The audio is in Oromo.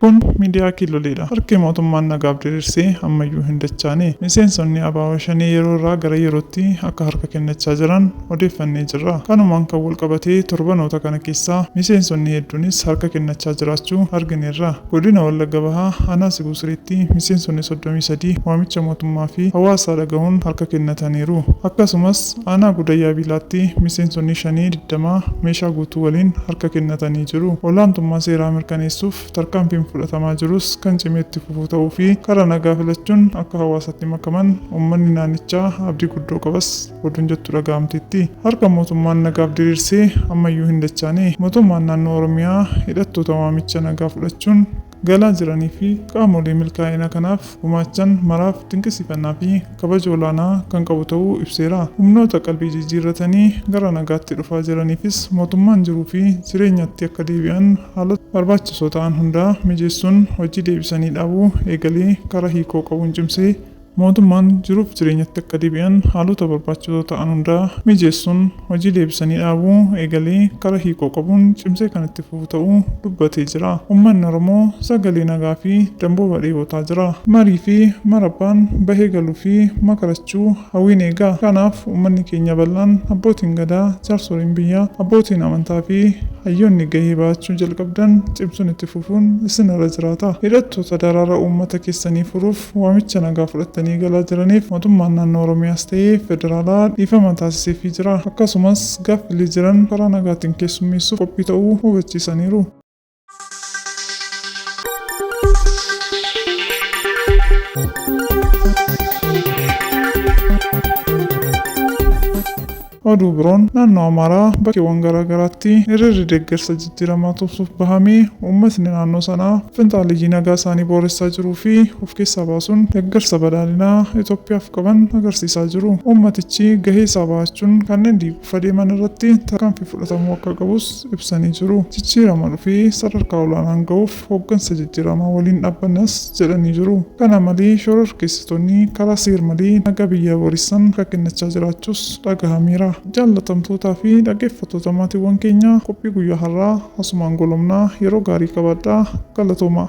Kun miidiyaa kiiloleedha. Harki mootummaan nagaaf diriirse ammayyuu hin dachaane. Miseensonni abo Shanee yeroo irraa gara yerootti akka harka kennachaa jiran odeeffannee jirra. Kanumaan kan walqabatee torbanoota kana keessa miseensonni hedduunis harka kennachaa jiraachuu argineerra. Godina Wallagga Bahaa Aanaa Sibuu Siriitti miseensonni soddomii sadii waamicha mootummaa fi hawaasaa dhagahuun harka kennataniiru. Akkasumas Aanaa Gudayyaa Biilaatti miseensonni Shanee digdama meeshaa guutuu waliin harka kennatanii jiru. Olaantummaa seeraa mirkaneessuuf tarkaanfiin fudhatamaa jirus kan cimee itti fufu ta'uu fi karaa nagaa filachuun akka hawaasaatti makaman uummanni naannichaa abdii guddoo qabas. oduun jettu dhaga'amteetti. Harka mootummaan nagaaf diriirse ammayyuu hin dachaane. Mootummaan naannoo Oromiyaa hidhattoota waamicha nagaa fudhachuun galaa jiranii fi qaamolee milkaa'ina kanaaf gumaachan maraaf dinqisiifannaa fi kabaja olaanaa kan qabu ta'uu ibseera. Humnoota qalbii jijjiirratanii gara nagaatti dhufaa jiraniifis mootummaan jiruu fi jireenyatti akka deebi'an haalota barbaachisoo ta'an hundaa mijeessuun hojii deebisanii dhaabuu eegalee karaa hiikoo qabuun cimsee Mootummaan jiruuf jireenyatti akka deebi'an haalota barbaachisoo ta'an hunda mijeessuun hojii deebisanii dhaabuu eegale karaa hiikoo qabuun cimsee kan itti fufu ta'uu dubbatee jira. Uummanni Oromoo sagalee nagaa fi dambooba dheebotaa jira. Marii fi marabbaan bahee galuu fi makarachuu hawwiin eega. Kanaaf uummanni keenya bal'aan, abbootiin Gadaa, jaarsoliin biyyaa, abbootiin amantaa fi hayyoonni gahee bahachuu jalqabdan cimsuun itti fufuun isin irra jiraata. Hidhattoota daraara uummata keessanii furuuf Waamicha nagaa fudhattanii eegalaa jiraniif mootummaan naannoo Oromiyaas ta'ee federaalaa dhiifama taasiseefii jira. Akkasumas gaaffilee jiran karaa nagaatiin keessummeessuuf qophii ta'uu hubachiisaniiru. Oduu biroon naannoo Amaaraa bakkeewwan garaa garaatti hiriirri deeggarsa jijjiiramaa tumsuuf bahame uummatni naannoo sanaa finxaaleyyii nagaa isaanii booressaa jiruu fi of keessaa baasuun deeggarsa badhaadhinaa Itoophiyaaf qaban agarsiisaa jiru. Uummatichi gahee isaa bahachuun kanneen diiguuf adeeman irratti tarkaanfii fudhatamuu akka qabus ibsanii jiru. Jijjiirama dhufe sadarkaa olaanaan gahuuf. hooggansa jijjiiramaa waliin dhaabbannas jedhanii jiru. Kana malee shororkeessitoonni karaa seer-malee nagaa biyyaa booressan kakkennachaa jiraachuus dhagahameera. Jaallatamtootaa fi dhaggeeffattoota maatiiwwan keenyaa qophii guyyaa har'aa asumaan golomnaa yeroo gaarii qabaadhaa. Galatoomaa!